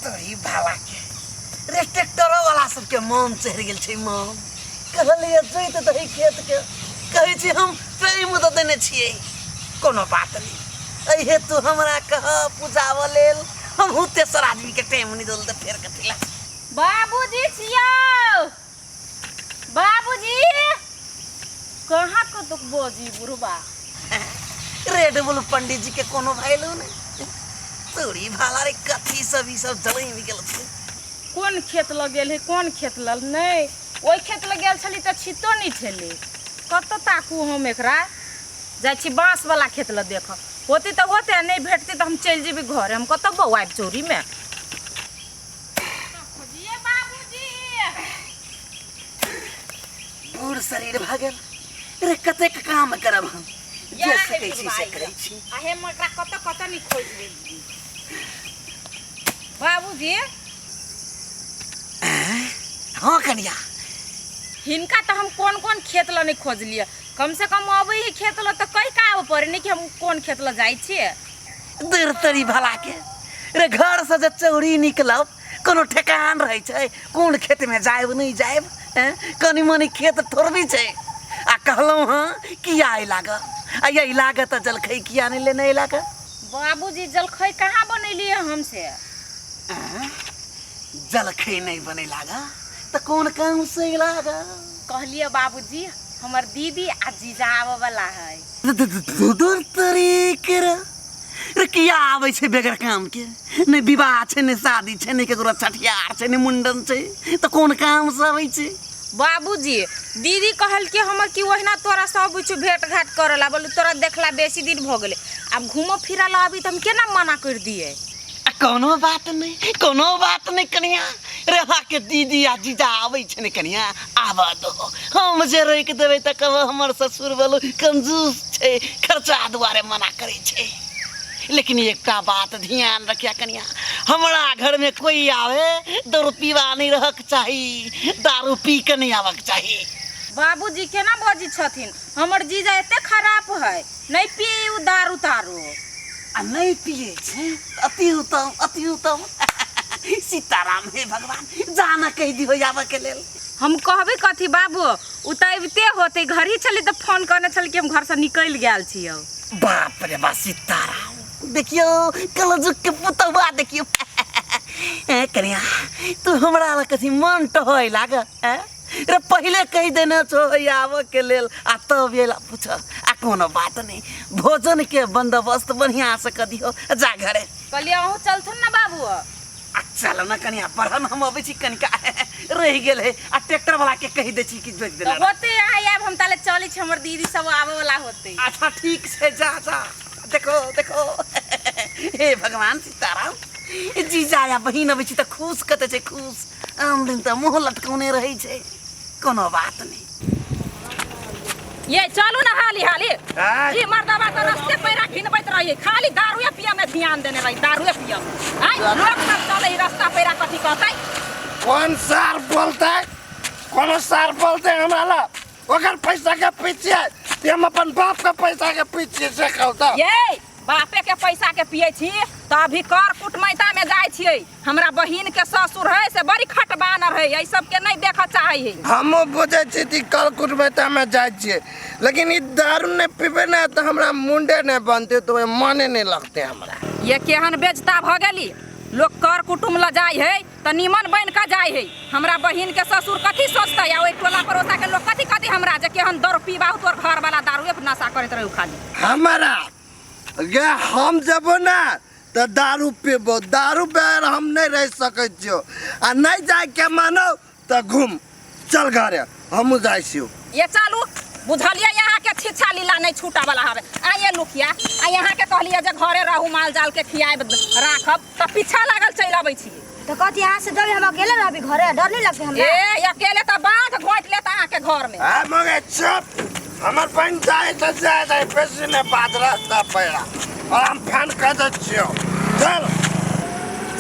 तोरी भाला के रे ट्रैक्टर वाला सबके मन चढ़ि गेल छै मन कहलिए जोइत दही खेत के कहै छी हम सही मुद देने छियै कोनो बात नहि एहि हेतु हमरा कह पूजाबऽ लेल हमहूँ तेसर आदमीके टाइम नहि देल तऽ फेर कथी लए बाबूजी छियौ बाबूजी कहाँ को तो बोजी बुढ़बा रेड बुल पंडित जी के कोनो भैलू ने तोरी भाला रे कथी सब ई सब जलई निकल कोन खेत लग गेल है कोन खेत लग नहीं ओहि खेत लग गेल छली तऽ छितो नहि छलै कतऽ ताकू हम एकरा जाइ छी बाँसवला खेत लग देखऽ होती तऽ होते आ नहि भेटती तऽ हम चलि जेबै घरे हम कतऽ बौआब चोरीमे बूढ़ शरीर भऽ गेल अरे कतेक काम करब हम जे सकै छी से करै छी अहे मकरा कत कत नि खोज देली बाबूजी हाँ कनिया हिनका तो हम कौन कौन खेत ला नहीं खोजलिए कम से कम अब ही खेत ला तो कई का ऊपर नहीं कि हम कौन खेत ला जाई छिए देर तरी भला के रे घर से जे चौरी निकलब कोनो ठेकान रहै छै कोन खेत में जायब नहीं जायब हैं? कनी मनी खेत थोड़बी छै आ कहलहुँ हँ किया अइ लागऽ आ यही लागऽ तऽ जलखै किया नहि लेने अइ लागऽ बाबूजी जलखै कहाँ बनेलिए हमसे जलखै नहीं बने लागऽ तऽ कोन काम से अइ लागऽ कहलिए बाबूजी हमर दीदी आ जीजा आबऽ वाला है धुधुर तरी के रे रे किया आबै छै बेगर काम के नहि विवाह छै नहि शादी छै नहि केकरो छठियार छै नहि मुंडन छै तऽ कोन काम से आबै छै बाबूजी दीदी कहलकै हमर कि ओहिना तोरा सब कुछ भेंट घाट करल आ बोलू तोरा देखला बेसी दिन भऽ गेलै आब घूमऽ फिरऽ लए अभी तऽ हम केना मना करि दियै आ कोनो बात नहि कोनो बात नहि कनिया रेवा के दीदी आ जीजा आबै छै ने कनिया आबऽ दो हम जे रोकि देबै तऽ कहबो हमर ससुर बोलो कंजूस छै खर्चा दुआरे मना करै छै लेकिन एकटा बात ध्यान रखिया कनिया हमरा घर में कोई आवे दारू पीवा नहीं रहक चाही दारू पी के नहीं आबक चाही बाबूजी केना बजै छथिन हमर जीजा एते खराब है नहि पिए ओ दारू तारू आ नहि पिए छै अति उत्तम अति उत्तम सीताराम हे भगवान जाना कहि दिहो आबऽ के लेल हम कहबे कथी बाबू ओ तऽ अबिते होते घर ही छली तऽ फोन करने छल कि हम घर से निकल गए छियो बाप रे बा सीताराम देखियो कलजुग के पुतवा देखियो कनिया तू हमरा लग कथी मन टहै लाग हैं? रे पहले कह देना छो है आवे के लेल आ तब एला पूछ आ कोनो बात नहीं भोजन के बंदोबस्त बढ़िया से कर दियो जा घरे कहलिए अहूँ चलथुन ना बाबू आ चल ना कनिया बढ़न हम अबै छी कनिका रह गेल है आ ट्रैक्टर वाला के कह दे छी कि जोत तो देना होते यहाँ आब हम ताले चली छी हमर दीदी सब आवे वाला होते अच्छा ठीक से जा जा देखो देखो हे भगवान सीताराम जीजा या बहिन अबै छी तऽ खुश कते छै खुश आन दिन तऽ मुँह लटकौने रहै छै कोनो बात नहि ये चलू ने हाली हाली आय। ई मर्दबा तऽ रस्ते पैरा घिनबैत रही खाली दारूए पिए में ध्यान देने रही दारूए पिए में आय लोग सब चले ई रास्ता पैरा कथी कहतै कोन सार बोलते कोनो सार बोलते हमरा ला ओकर पैसा के पीछे ते हम अपन बाप के पैसा के पीछे से कहता ये बापे के पैसा के पिए छी तऽ अभी कर कुटमैता में जाइ छियै हमरा बहिन के ससुर है से बड़ी खटबानर है ये सब के नहीं देखा चाहे है हमो बुझे छी कि कल कुटबैता में जाय छिए लेकिन ई दारू ने पीबे ने तो हमरा मुंडे ने बनते तो ओए मने नहीं लगते हमरा ये केहन बेजता भ गेली लोग कर कुटुम ल जाय है त निमन बन के जाय है हमरा बहिन के ससुर कथी सोचते या ओई टोला पड़ोसा के लोग कथी कथी हमरा जे केहन दारू पीबा हो तोर घर वाला दारू एक नशा करत रहू खाली हमारा गे हम जबो ना तऽ दारू पीबो दारू बगैर हम नहि रहि सकै छियौ आ नहि जायके मानो तऽ घूम चल घरे हमहूँ जाइ छियौ ये चलू बुझलियै अहाँके छिछा लीला नहि छूटऽ वाला हवे आ ये लुकिया आ अहाँके कहलियै जे घरे रहू माल जाल के खियाब राखब तऽ पीछा लागल चलि अबै छी तो कहती यहाँ से जब हम अकेले रहबी घरे डर नहीं लगते हमरा ए अकेले तो बाघ घोट लेता अहाँ के घर में आ मगे चुप हमर बहन जाए तो जाए जाए पैसे में बादरा सा पैरा और हम फैन कर दे छियो चल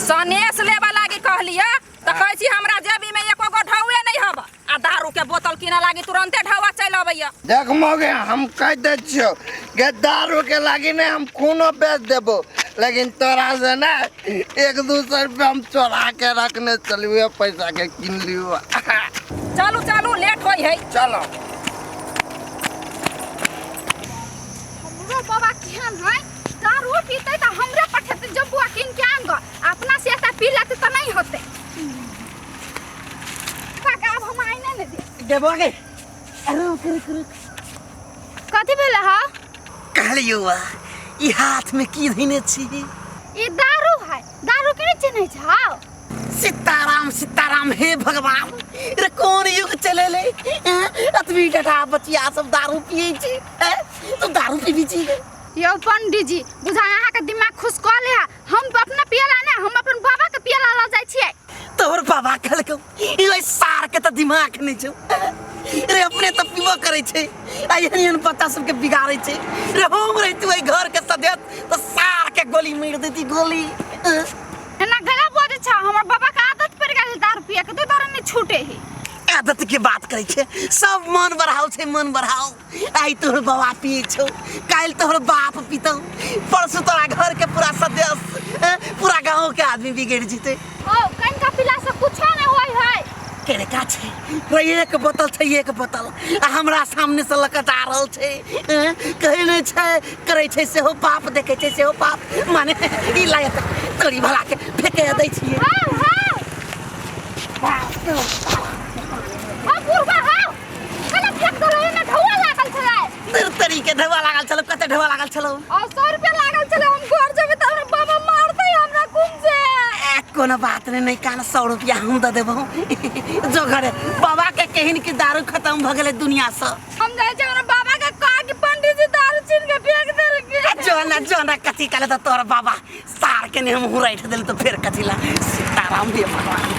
सनेस लेबा लागी कहलिए तो कहै छी हमरा जेबी में एको गो ढौए नहीं हबा आ दारू के बोतल किने लागी तुरंते ढावा चल अबैया देख मौगे हम कह दे छियो के दारू के लागी ने हम खूनो बेच देबो लेकिन तोरा से ना एक दू सौ रुपया हम चोरा के रखने चलिए पैसा के किन लियो चलू चलू लेट होई है चलो हमरो बाबा केहन है दारू पीते त हमरे पठेते जब बुआ किन के आन ग अपना से त पी लेते त नहीं होते काका अब हम आइ नहि ने दे देबो गे रुक रुक रुक कथी भेल हा कहलियौ वा ई हाथमे की धैने छी ई दारू है दारू के नहि चिन्है छाओ सीताराम सीताराम हे भगवान रे कोन युग चलेले एं? अतबी टटा बचिया सब दारू पियै छै एं? तू दारू पीबी छी यौ पंडीजी बुझा अहाँके दिमाग खुश कऽ ले हम अपना पियला ना हम अपन बाबा के पियला ला जाय छियै तोहर बाबा कहलकौ इले सार के त दिमाग नै छौ रे अपने त पीबो करै छै आ एहन एहन बच्चा सबके बिगाड़ै छै रे हम रही तू एहि घर के सदैत त सार के गोली मारि देती गोली अं। एना गला बजे छ हमर बाबा के आदत पड़ गेल है दारू पिए के तो दारू नहीं छूटे है आदत के बात करै छै सब मन बढ़ाओ छै मन बढ़ाओ आई तोहर बाबा पिए छौ काल्हि तोहर बाप पीतौ परसू तोरा घर के पूरा सदस्य ए, पूरा गांव के आदमी बिगड़ जीते ओ कहीं का पिला से कुछो ना होई है केरे का छै वही एक बोतल छै एक बोतल आ हमरा सामने से लकत आ रहल छै ए, कहै नहि छै करै छै सेहो पाप देखै छै सेहो पाप माने ई लागत तोरी भला के फेके दै छियै हां हां हां बुढ़वा हां कने फेंक देलो एमे ढौआ लागल छले तेरे तेरी के ढेवा लागल छलो कते ढेवा लागल छलो और सौ रुपया लागल छले हम घर जेबे त हमरा बाबा मार दे हमरा कुम से ए, कोनो बात नहीं नहीं काल सौ रुपया हम दे देबो जो घरे बाबा के कहन की दारू खत्म भ गेले दुनिया से हम जाए छे हमरा बाबा के कह के पंडित जी दारू छीन के फेंक देल के आ, जो ना जो ना कथी काले तो तोर बाबा सार के नहीं हम हुराइठ देल तो फिर कथी ला सीताराम दे भगवान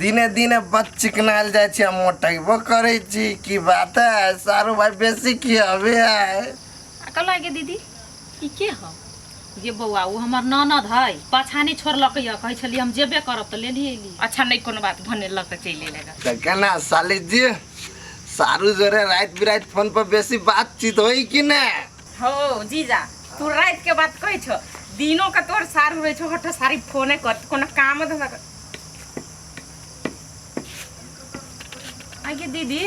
दिने दिने बच चिकनायल जाइ छै आ मोटेबो करै छी की बात है सारू भाई बेसी की हवे है कल गे दीदी ई के हो गे बौआ ओ हमर ननद है पाछा नहीं छोड़लक यऽ कहै छलियै हम जेबे करब तऽ लेली अयली अच्छा नहीं कोनो बात भने लऽ कऽ चलि अयलै तऽ केना साली जी सारू जोरे राति बिराति फोन पर बेसी बातचीत होई कि ने हो जीजा तू राति के बात कहै छो दिनो के तोर सारू रहै छो हट सारी फोने कर कोनो काम धंधा कर आगे दीदी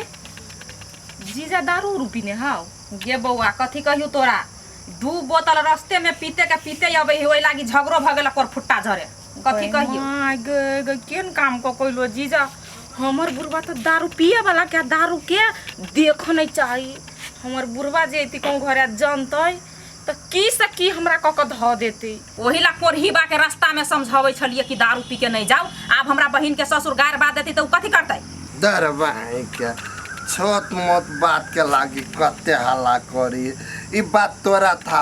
जीजा दारू उरू पीने हाउ गे बौआ कथी कहियो तोरा दू बोतल रस्ते में पीते के पीते अबे है ओहि लागी झगड़ो भऽ गेल पर फुट्टा झरे कथी कहियो गे गे केन काम को कोइलो जीजा हमर बुढ़वा तो दारू पिए वाला के दारू के देख नहीं चाही हमर बुढ़वा जे अइती कहूँ घरे जनतै तो की से की हमरा कऽ के धऽ देतै ओही ला कोरही बा के रास्ता में समझावे छलिए कि दारू पी के नहीं जाओ अब हमरा बहन के ससुर गार बात देती तो उ कथी करते दरबाई के छोट मोट बात के लागी कते हल्ला करी ई बात तोरा था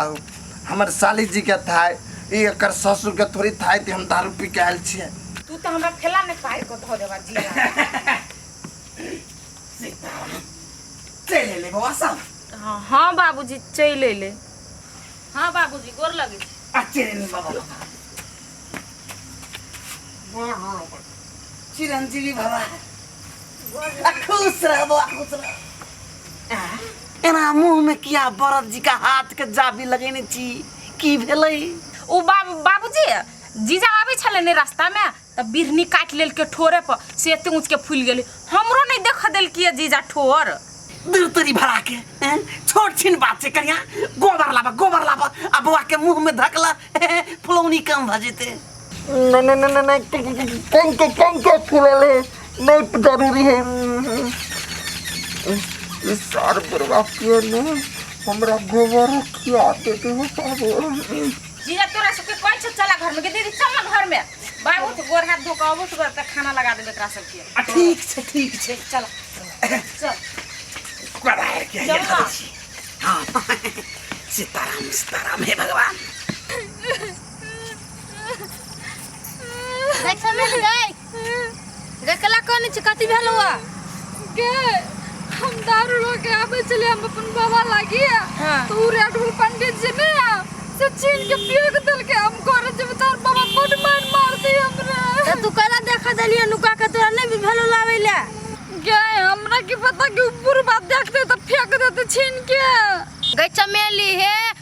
हमर साली जी के था ई एकर ससुर के थोड़ी था कि हम दारू पी के आयल छियै तू तो हमरा खेला में पार को धो देवा जी चले ले बौआ सब हाँ बाबूजी चल ले हाँ बाबूजी गोर लगे छी अच्छे दिन बाबा बाबा गोर लगे चिरंजीवी बाबा आ खुश रह बाबा खुश रह आ, एना मुंह में किया बरद जी का हाथ के जाबी लगेने छी की भेलै ओ बाबू बाबूजी जीजा आबै छलै ने रास्तामे तऽ बिरहनी काटि लेलकै ठोरे पर से एते ऊँच के फूल गेलै हमरो नहीं देख देलकिए जीजा ठोर दूतरी भरा के हैं? छोट छिन बात से करिया गोबर लाबा गोबर लाबा आ बौआ के मुंह में धकला फुलौनी काम भ जेते नहीं नहीं नहीं नहीं कहीं के कहीं के खिलाले नहीं जरूरी है इस सार बुरवा पिए ने हमरा गोबर खिया देते हो बाबू जीजा तोरा सबके कोन छ चला घर में के दीदी चल ना घर में बाबू तो गोर हाथ धो के अबो तो तक खाना लगा देबे एकरा सब के आ, ठीक छै ठीक छै चल चल करार के चल ना। हाँ सीताराम सीताराम हे भगवान देख समय लगे गे कला कौन छै कथी भेल हुआ गे हम दारू लो के आबे चले हम अपन बाबा लागी हाँ। तो उ रेड बुल पंडित जी ने से छीन के पियो के दिल के हम करे जब तार बाबा बड़ मार मार दी हमरा त तू कला देखा देलिए नुका के तोरा नहीं भेल लावे ले गे हमरा की पता कि ऊपर बात देखते तो फेंक देते छीन के गे चमेली हे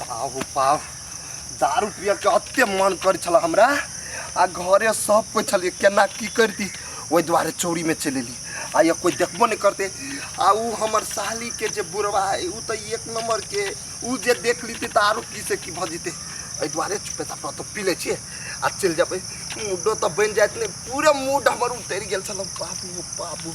पाहु पाहु दारू पिया के अते मन करै छला हमरा आ घरे सब कोइ छलिए केना की करती ओहि दुआरे चोरी में चलि एली आ या कोइ देखबो नहि करते आ ऊ हमर साली के जे बुढ़वा है ऊ तऽ एक नंबर के ऊ जे देख लीती तऽ आरो की से की भऽ जेतै एहि दुआरे चुपे चाप तो पी लै छियै आ चलि जेबै मूडो तऽ बनि जाइत नहि पूरे मूड हमर उतरि गेल छलौ बाबू बाबू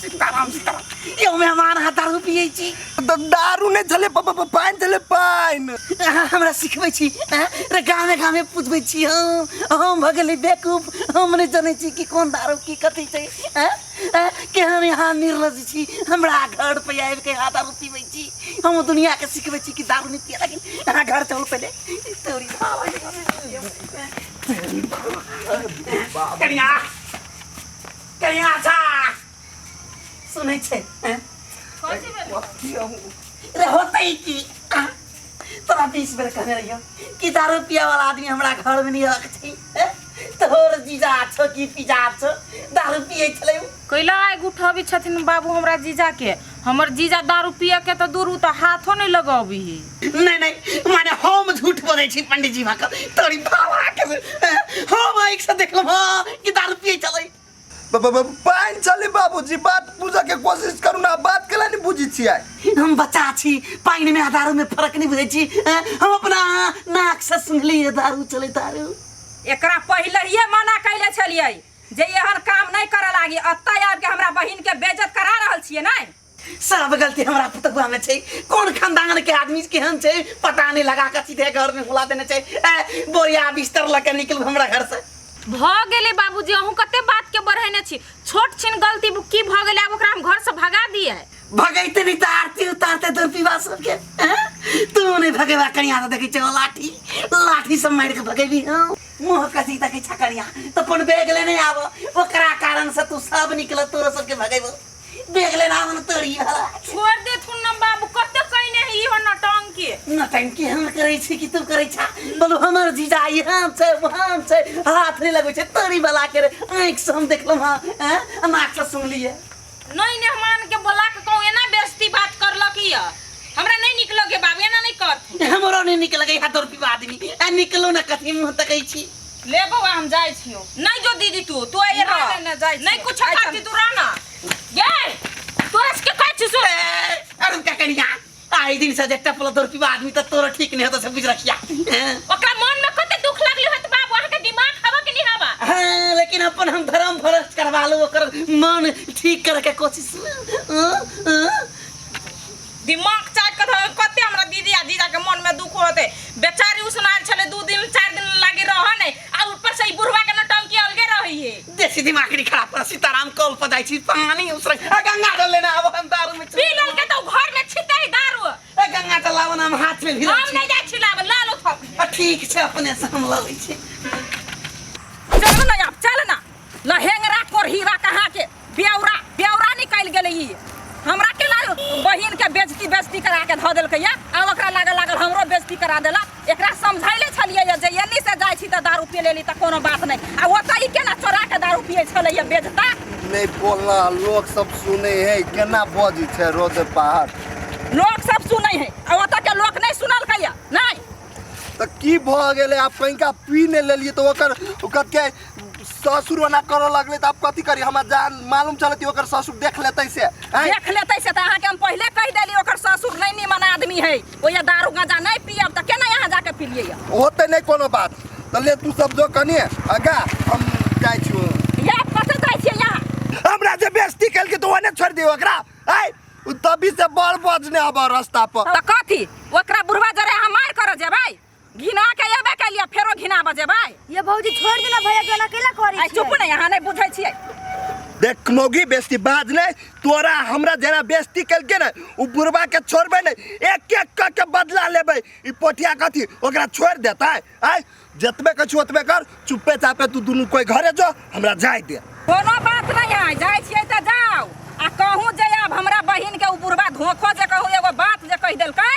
सीताराम सीताराम यो में हमार हाथ दारू पिए छी द- दारू नहि छलै प- प- प- पानि छलै पानि अहाँ हमरा सिखबै छी अहाँ रे गामे गामे पूछबै छी हम हम भऽ गेलै बेकूफ हम नहि जनै छी कि कोन दारू की कथी छै अँ? अँ? के हम यहाँ निर्लज छी हमरा घर पे आबि के यहाँ दारू पीबै छी हम दुनिया के सिखबै छी कि दारू नहि पिए लेकिन अहाँ घर चलू पहिले तोरी बाबा के घर। तोरी बाबा। कनिया कहिया जा सुनै छै हैं? कथी भेल कथी हम रे होतै की आ? तोरा बीस बेर कहने रहियो कि दारू पिया वाला आदमी हमरा घर में नहीं रख छै हैं? तोहर जीजा छो की पिजा छो दारू पिए छलै उ। कैला आगि उठबै छथिन बाबू हमरा जीजाके हमर जीजा दारू पिए के तो दूर उ तो हाथो नहीं लगबी है नहीं नहीं माने हम झूठ बोले छी पंडित जी भा तोरी भावा के से हैं, हम आइक से देख लेब हाँ, कि दारू पिए चलै ब- ब- ब- पानि चली बाबूजी बात बुझे के कोशिश करू ना बात केला नहीं बुझी छियै हम बच्चा छी पानि में आ दारू में फर्क नहीं बुझे छी हैं, हम अपना नाक से सुनली है दारू चले दारू एकरा पहले ही मना कैले छलिए जे एहन काम नहीं करे लागी अत्ता आब के हमरा बहिन के बेइज्जत करा रहल छिए नहीं सब गलती हमरा पुतगुआ में छै कोन खानदान के आदमी केहन छै पता नहीं लगा के सीधे घर में बुला देने छै ए बोरिया बिस्तर लके निकल हमरा घर से भ गेले बाबूजी अहूँ कते बात के बढ़ेने छी छोट छिन गलती बु- की भ गेले आब ओकरा हम घर से भगा दिए भगैते नहीं तो आरती उतारते तोर पीवा सबके हैं? तू नहीं भगेवा कनिया तो देखै छौ लाठी लाठी से मारि के भगेबी हम मुँह कसी देखै छ कनिया तो अपन बैग लेने आब ओकरा कारण से तू सब निकल तोरो सबके भगेबो बैग लेने आब न तोरी वाला छोड़ दे तू ना बाबू कते कइने है इहो नटंग के नटंकी हम करै छी कि तू करै छा बोलू हमर जीजा ई हम छै वो हम छै हाथ नहीं लगै छै तोरी वाला के रे आँखि से हम देखलहुँ हँ हैं? आ नाक से सुनलियै नहीं मेहमान के बोला के कहूँ एना बेइज्जती बात करलक ही है हमरा नहीं निक लगे बाबू एना नहीं कर हमरो नहीं निकल गई हाथ और पीवा आदमी आ निकलो ना कथी मुंह तकै छी ले बौआ हम जाय छियो नहीं जो दीदी तू तू ए नहीं, रह नहीं, नहीं, जाय छियो। नहीं कुछ आय करती तू रह ना गए तोरा से के कहै छी सुन अरे का करिया ताहि दिन से जे टपल दौड़ पीबा आदमी तऽ तोरा ठीक नहि होता से बुझ रखिया हैं? ओकरा मन में कते दुख लगले होत बाबू अहाँ के दिमाग हवा के नहीं हवा हाँ, लेकिन अपन हम धर्म भ्रष्ट करवा लो ओकर मन ठीक करे के कोशिश हाँ, हाँ। दिमाग चाट के धरे कते हमरा दीदी आ जीजा के मन में दुख होते बेचारी उसनाल छले दू दिन चार दिन लागी रह ने आ ऊपर से ई बुढ़वा के नौटंकी अलगे रही है देसी दिमाग नहीं खराब कर सीताराम कॉल पर जाई छी पानी उसर ए गंगा जल लेना अब हम दारू में पी लल के तो घर में छिटे दारू ए गंगा जल लावन हम हाथ में भिरा हम नहीं जाय छी लाब लालो थक ठीक छै अपने से हम ललै छी चल ना अब चल ना लहेंगरा कोरहीरा कहाँ के ब्यौरा ब्यौरा निकल गेलै ई हमरा के बहिन के बेजती बेजती करा के धऽ देलकै या आ ओकरा लागल लागल हमरो बेजती करा देलक एकरा समझैले छलियै यऽ जे एन्नी से जाइ छी तऽ दारू पी लेली तऽ कोनो बात नहि आ ओतऽ ई केना चोरा के दारू पियै छलै यऽ बेजता नहीं बोलना लोग सब सुने है केना बजी छे रोद बाहर लोक सब सुनै है आ ओतऽ के लोक नहि सुनलकै यऽ नहि तो की भ गेले आप कहीं का पी नहीं लेलिए तो ओकर ओकर के ससुर ओना करे लगले तो आप कथी करी हमरा जान मालूम चलती ओकर ससुर देख लेते से हैं? देख लेतै से तऽ अहाँके हम पहिले कहि देली ओकर ससुर नहि नीमन आदमी है ओया दारू गांजा नहीं पियब त केना यहां जाके पिलिए या होते नहीं कोनो बात त ले तू सब जो कनी आगा हम जाय छु या कते जाय छी या हमरा जे बेस्ती कल के तो ओने छोड़ दियो ओकरा आय तभी से बड़ बजने अब रास्ता पर त कथी ओकरा बुढ़वा जरे हम मार कर जेबै घिना के एबे कलिया फेरो घिना बजेबै ये भौजी छोड़ देना भैया गाना केला करी आई चुप नहीं यहाँ नहीं बुझे छिए देख मोगी बेस्ती बाज नहीं तोरा हमरा जेना बेस्ती कल के ना उ बुरबा के छोड़बे नहीं एक एक क के बदला लेबे ई पोटिया कथी ओकरा छोड़ देता है आय जतबे कछु ओतबे कर चुप्पे चापे तू दुनू कोई घरे जो हमरा जाय दे कोनो बात नहीं है जाय छिए त जाओ आ कहूँ जे अब हमरा बहिन के उ बुढ़बा धोखो जे कहूँ एगो बात जे कह देलकै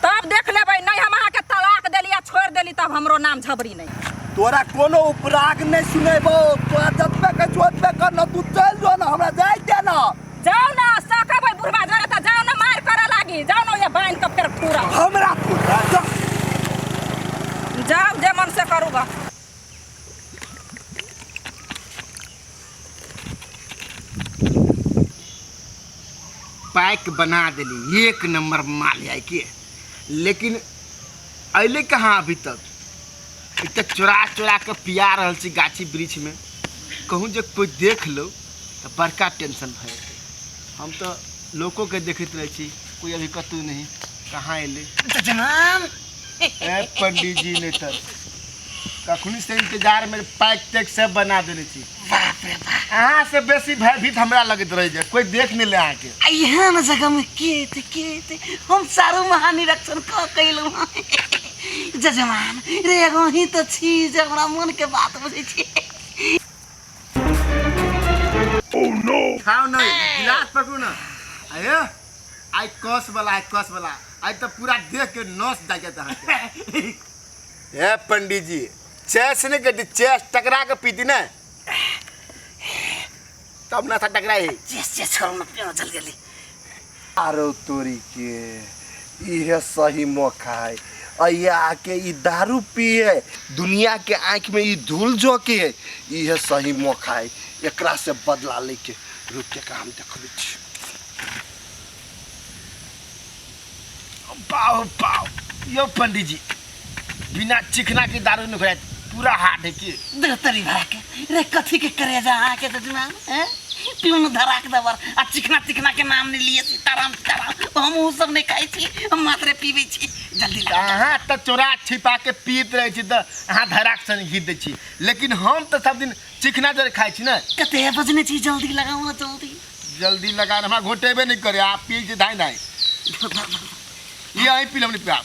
तब देख लेबै नहीं हम अहाँ के तलाक देली आ छोड़ देली तब हमरो नाम झबरी नहीं तोरा कोनो उपराग नहीं सुनेबो तोरा जतबे के जोतबे कर न तू चल जो न हमरा जाय दे न जाओ ना सकब है बुढ़वा जरा त जाओ ना मार करे लागी जाओ ना ये बांध के फेर पूरा हमरा तू जा जाओ जे मन से करूगा पैक बना दिली एक नंबर माल है के लेकिन अले कहाँ अभी तक ई तऽ चोरा चोरा के पिया रहल छी गाछी वृक्ष में कहूँ जे कोई देख लो तऽ बड़का टेंशन भए जेतै हम तऽ लोको के देखैत रहै छी कोई अभी कतहु नहीं कहाँ एलै जनाम ए पंडित जी ने तर कखनी से इंतजार में पैक तैक सब बना देने छी अहाँ से बेसी भयभीत हमरा लगत रह जाए कोई देख नहीं ले अहाँ के आ यहाँ न जगह में के थे के थे हम सारो महानिरीक्षण क कैलहुँ हँ जजमान रे एगो ही तो छी जे हमरा मन के बात बुझै छी खाओ नहीं गिलास पकड़ू ना आयो आई कस वाला आई कस वाला आई तो पूरा देख के नस जाके तहां के हे पंडित जी चेस ने कटी चेस टकरा के पीती ना तब ना था टकरा ही चेस चेस करो ना पियो चल गेली आरो तोरी के इहे सही मौका है अया आके ई दारू पिए दुनिया के आंख में ई धूल झोंके है इहे सही मौका है एकरा से बदला लेके रुके का हम देखबै छी पाओ पाओ यो पंडित जी बिना चिकना के दारू नहीं खाए पूरा हाथ है कि देवतरी भरा के रे कथी के करे जा आके तो दिमाग हैं पिउन धरा के दबर आ चिकना चिकना के नाम नहीं लिए सीताराम सीताराम हम उ सब नहीं खाई छी हम मात्र पीबे छी जल्दी ला अहाँ तऽ चोरा छिपा के पीत रहे छी तऽ अहाँ धराक संग घीत दै छी लेकिन हम तऽ सब दिन चिकना जर खाइ छी ने कते बजने छी जल्दी लगाओ ना जल्दी जल्दी लगा हमरा घोटेबे नहीं करे आप पी जे धाई धाई ये आई पी लमनी पिया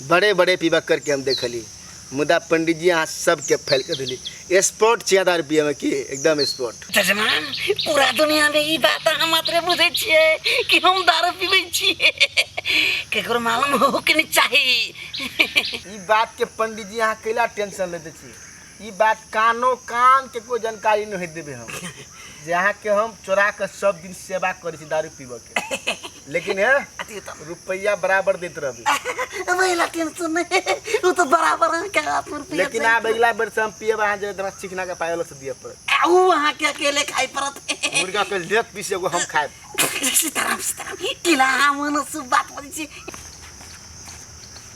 बड़े बड़े पीबा करके हम देखली मुदा पंडित जी यहाँ सबके फैल कर दिली स्पॉट छिया हजार रुपया में की एकदम स्पॉट जजमान पूरा दुनिया में ई बात हम मात्र बुझे छिए कि हम दारू पीबे छिए केकरो मालूम हो के नहीं चाही ई बात के पंडित जी यहाँ कैला टेंशन लेते छी ई बात कानो कान के कोई जानकारी नहीं देबे हम जे अहाँ के हम चोरा के सब दिन सेवा करे छी दारू पीबे के लेकिन है अति उत्तम रुपया बराबर देत रहबे महिला टेंशन नहीं वो तो बराबर है क्या आप रुपया लेकिन आब अगला बेर से हम पियब अहाँ जे तोरा चिकना के पायल से दिए पड़त आ, ऊ वहाँ के अकेले खाई पड़त मुर्गा के लेग पीस एगो हम खाएब सीताराम सीताराम किला मन से बात बजे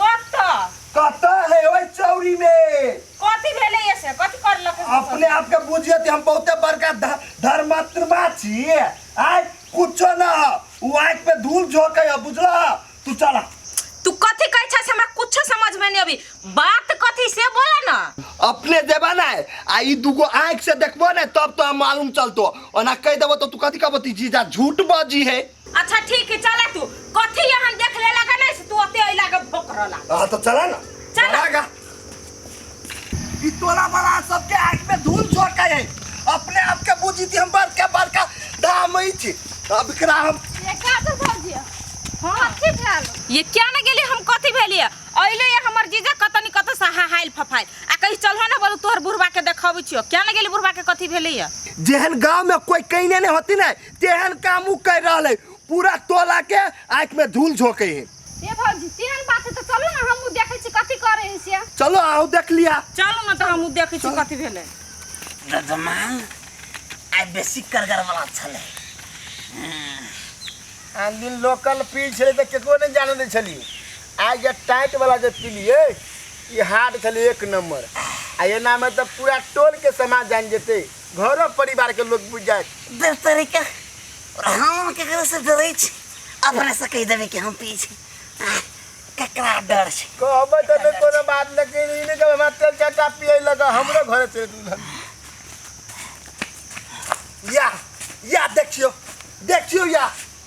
कत कत है ओइ चौरी में कथी भेले ये से कथी कर लके अपने आप के बुझिए कि हम बहुते बड़का ध- धर्मात्मा छी आय कुछो ना हो उ आँख पे धूल झोंके है बुझला तू चला तू कथी कहै छस हमरा कुछ समझ में नहीं अभी बात कथी से बोला ना अपने देबा ना है आ ई दूगो आँख से देखबो ना तब तो हम मालूम चलतो ओना कह देबो तो तू कथी कहबो ती जीजा झूठ बाजी है अच्छा ठीक है चला तू कथी यहाँ देख ले लगा नहीं से तू अते अइला के भोक रहला हाँ तो चला ना चला। चलागा ई तोरा बड़ा सबके आँख में धूल झोंक के है अपने आप के बुझी थी हम बड़का बड़का दाम ही छी अब एकरा हम ये का तो भौजी हां की भेल ये क्या ना गेली हम कथी भेलिए अइले ये हमर जीजा कतनी कत से हाहाइल फफाइल आ कहीं चलहो ना बोलू तोहर बुढ़वा के देखाबै छियो क्या ना गेली बुढ़वा के कथी भेलै ये जेहन गांव में कोई कहने नहीं होती ना तेहन काम उ कर रहल है पूरा टोला के आँख में धूल झोंके है ए भौजी तेहन बात है तो चलो ना हमहू देखे छी कथी करे है से चलो आओ देख लिया चलू ने तऽ हमहूँ देखै छी कथी भेलै जजमान आइ बेसी करगरवला छलै आन दिन लोकल पी छलै तऽ केकरो नहि जाने दै छली आइ जे टाइट वाला जे पीलिए ई हार्ड छलै एक नंबर आ एनामे तऽ पूरा टोल के समाज जानि जेतै घरो परिवार के लोग बुझ जाए दे तरीका और हम केकरो से डरे छी अपने से कह देबे कि हम पिए छी आह, केकरा डर छै कहबै त नै कोनो बात लेकिन ई नै कहबै हमरा तेल चाटा पिए लग हमरो घरे चलि दुल्हन या या देखियो देखियो या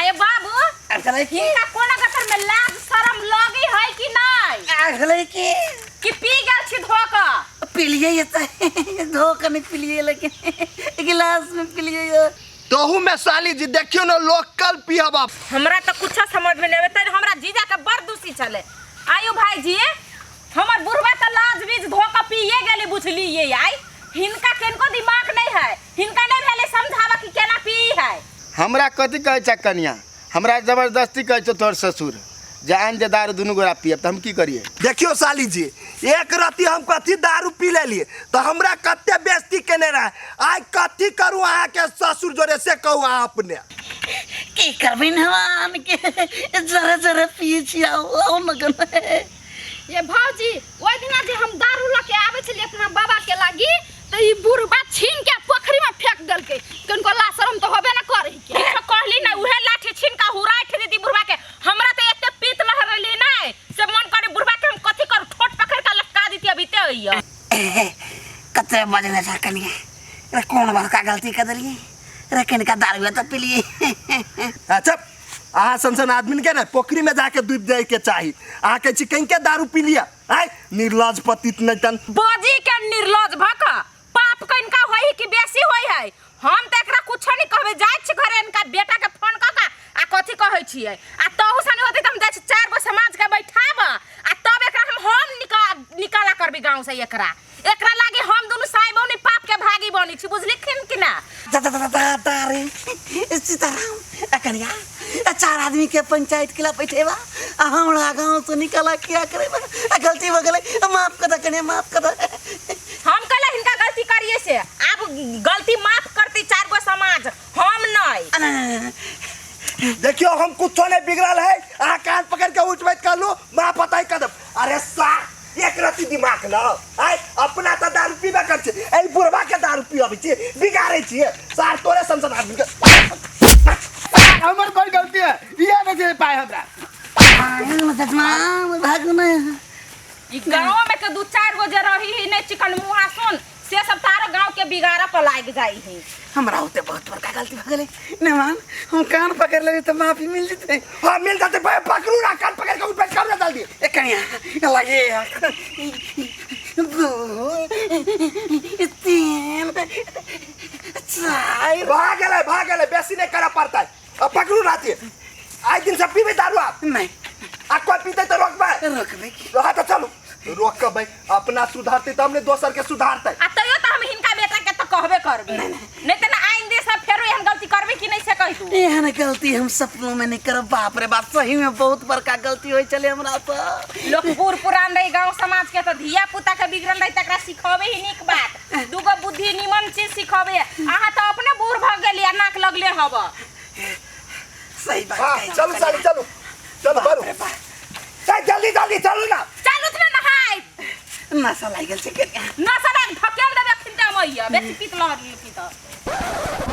आए बाबू आ गलै की इनका कोना गतर में लाज शरम लगी है कि नहीं आ गलै की कि पी गेल छी धोक पिलिए ये त धोखा नहीं पिलिए लेकिन गिलास में पिलिए ये तहू में साली जी देखियो ना लोकल पियाबा हमरा तो कुछ समझ में नहीं आवे तनी हमरा जीजा के बड़ दूसी चले आयु भाई जी हमर बुढ़वा तो लाज बीज धोक पिए गेली बुझली ये आई हिनका किनको दिमाग नहीं है हिनका नहीं भेले समझावा कि केना पी है हमरा कथी कहै छै कनिया हमरा जबरदस्ती कहै छौ तोहर ससुर जे आन जे दारू दुनू गोरा पियब तऽ हम की करियै देखियो साली जी एक रत्ती हम कथी दारू पी लेलिए तो हमरा कते बेइज्जती केने रहे आइ कथी करू अहाँ के ससुर जोरे से कहू अहाँ अपने की करबिन हम आन के जरे जरे पिए छी आओ आओ न गन ये भौजी ओहि दिना जे हम दारू लऽ के आबै छलियै अपना बाबा के लागी तऽ ई बुढ़बा छीन के पोखरी में फेंक देलकै कनको ला शरम तऽ होबे न करै के किछो कहली ना उहे लाठी छीन का हुराइ ठे दीदी बुढ़वा के हमरा त एते पीत लह रहली ना से मन करे बुढ़वा के हम कथी करू ठोट पकड़ के लटका दीती अभी ते अइया कते बजने था कनिया रे कौन बड़का गलती कर दिलिए रे कनिका दारू तो पिलिए अच्छा अहाँ सन सन आदमी के ना पोखरी में जाके डूब जाए के चाही अहाँ कहे छी कहीं के दारू पी लिया आय निर्लज पतित नहीं तन बजी के निर्लज भक पाप के इनका होई है कि बेसी होई है हम त एकरा कुछो नहीं कहबे जाय छी घरे इनका बेटा के फोन क का आ कथी कहै छियै आ तहु सने होते त हम जाय छी चार गो समाज के बैठाब आ तब एकरा हम हम निका निकाला करबी गांव से एकरा एकरा लागे हम दोनों साई बहनी पाप के भागी बनी छी बुझली खिन कि ना दा दा दा दा दा रे ए सीताराम ए कनिया ए चार आदमी के पंचायत के ला बैठेबा आ हमरा गांव से निकला किया करेबा ए गलती हो गेलै ए माफ कर दा कनिया माफ कर दा हम कहला हिनका गलती करिए से अब गलती माफ करती चार गो समाज हम नहीं आ, ना, ना, ना, ना। देखियो हम कुछो नहीं बिगड़ल है आ कान पकड़ के उठ बैठ कर लो माँ पता ही कदम अरे सा एक रत्ती दिमाग न आय अपना तऽ दारू पीबे कर छै एहि बुढ़वा के दारू पियाबै छियै बिगाड़ै छियै सार तोरे संसद आदमी के हमर कोई गलती है इहे ने जे पाए हमरा ई गाँव में के दू चार गो जे रही ही नहीं चिकन मुहा सुन से सब तारा गांव के बिगाड़ा पर लाग जाई है हमरा होते बहुत बड़का गलती हो गेलै नमान हम कान पकड़ लेबै तऽ माफी मिल जेतै हाँ मिल जाते भाई पकड़ू ना कान पकड़ के ऊपर कर डाल दिए ए कनिया लगे दू तीन चार भाग गेलै भाग गेलै बेसी नहीं करे पड़ता है आ पकड़ू राते आइ दिन से पीबे दारू आप नहीं आ कोई पीते तो रोकबे रोकबे रहा तो चलू रोकबे अपना सुधारते तब ने दोसर के सुधारते आ तैयो तो हम हिनका बेटा के तो कहबे करबे नहीं तो ना आइंदे सब फेरो हम गलती करबे कि नहीं से कह दू एहन गलती हम सपनों में नहीं करब बाप रे बाप सही में बहुत बड़का गलती होई चले हमरा से लोग बूढ़ पुरान रही गांव समाज के तो धिया पुता के बिगड़ल रही तकरा सिखावे ही नीक बात दूगो बुद्धि निमन चीज सिखबे अहाँ तो अपने बूढ़ भग गेली आ नाक लगले हब सही बात हाँ, कहे चलू साली चलू चलू बारू चल जल्दी जल्दी चलू ना चल उतना नहाय नशा लाग गेल छै के ना सदा फकेल देबे खिंटा मैया बेसी पीत लहर लियो की तो